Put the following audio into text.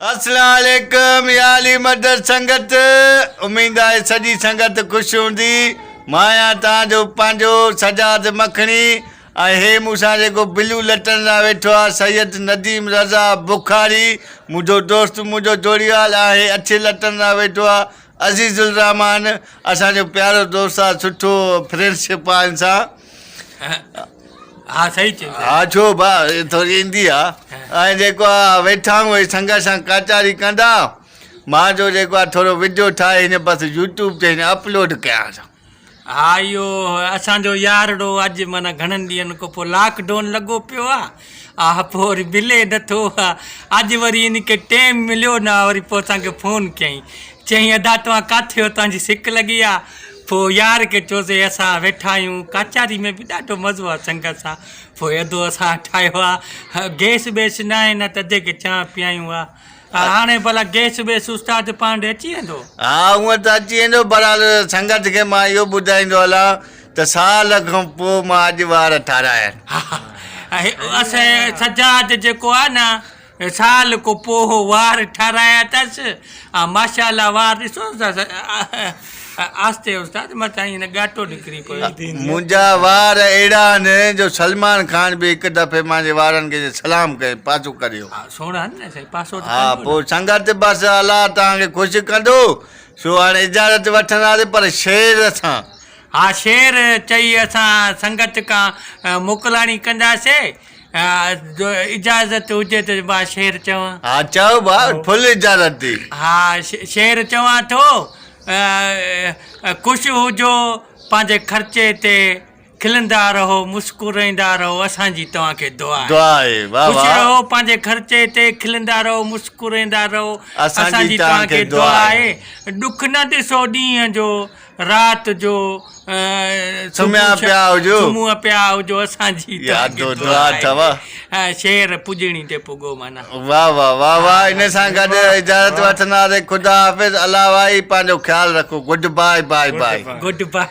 السلام عليڪم يا علي مدد سنگت اميد آهي سڄي سنگت خوش هوندي مان آهيان تان جو پنهنجو سجاد مکڻي ۽ هي مون سان جيڪو بلو لٽن لاء ويٺو آهي سيد نديم رضا بخاري منهنجو دوست منهنجو جوڙيال آهي اڇي لٽن لاء ويٺو آهي عزيز الرحمان اسان جو پيارو دوست آهي سٺو فرينڊشپ آهي ان سان ها صحيح چيو ها ڇو ڀا ٿوري ايندي آ ۽ جيڪو آ ويٺا آهيون اهي سنگت سان ڪاچاري ڪندا مان جو جيڪو آ ٿورو وڊيو ٺاهي هن بس يوٽيوب تي هن اپلوڊ ڪيان سان ها اهو اسان جو يارڙو اڄ معنيٰ گهڻن ڏينهن کان پوء لاڪ ڊون لڳو پيو آ آء پوري بلي نٿو آء اڄ وري ان کي ٽيم مليو نه آء وري پوء اسان کي فون ڪيائين چيائين ادا توهان ڪاٿي آهيو توهان جي سڪ لڳي آهي پوء يار کي چيوسي اسان ويٺا آهيون ڪچهري ۾ به ڏاڍو مزو آهي سنگت سان پوء ادو اسان ٺاهيو آهي گيس بيس نه آهي نه ته ادي کي چانهه پيائيون آهي ها هاڻي ڀلا گيس ويس استاد پاڻ ڏي اچي ويندو. ها هونء ته اچي ويندو بهرحال سنگت کي مان اهو ٻڌائيندو هلان ته سال کان پوء مان اڄ وار ٺارايا آهن. ها ها اسين سجاد جيڪو آهي نه سال کان پوء وار ٺارايا اٿس ها ماشاءالله وار ڏسوس ها آھستي استاد مٿان ھن ڳاٽو نڪري پيو. منھنجا وار اھڙا آھن جو سلمان خان به ھڪ دفعي مانجي وارن کي جي سلام ڪيم پاسو ڪريو. ھا سھڻا آھن نه سائين پاسو ته ڪربو نه. پوء سنگت بس الله توھان کي خوش ڪندو سو ھاڻي اجازت وٺنداسين پر شعر سان. ھا شعر چئي اسان سنگت کان موڪلاڻي ڪنداسين. جو اجازت هجي ته ٻه شعر چوان. ها چئو ٻه ڦل اجازت ٿي. ها شعر چوان ٿو. خوش هجو پنهنجي خرچي تي کلندا رهو مسڪرائيندا رهو اسان جي توهان کي دعا آهي. دعا آهي واهه خوش واهه. رهو پنهنجي خرچي تي کلندا رهو مسڪرائيندا رهو اسان جي توهان کي دعا آهي. ڏک نه ڏسو ڏينهن جو رات جو سمهيا پيا هجو. سمهيا پيا هجو اسان جي ته اڄ دعا اٿو. شعر پڄڻي تي پڳو معنيٰ. واه واه واه واه ان سان گڏ اجازت وٺنداسين خدا حافظ الله وائي پنهنجو خيال رکو good bye bye bye. Good باء.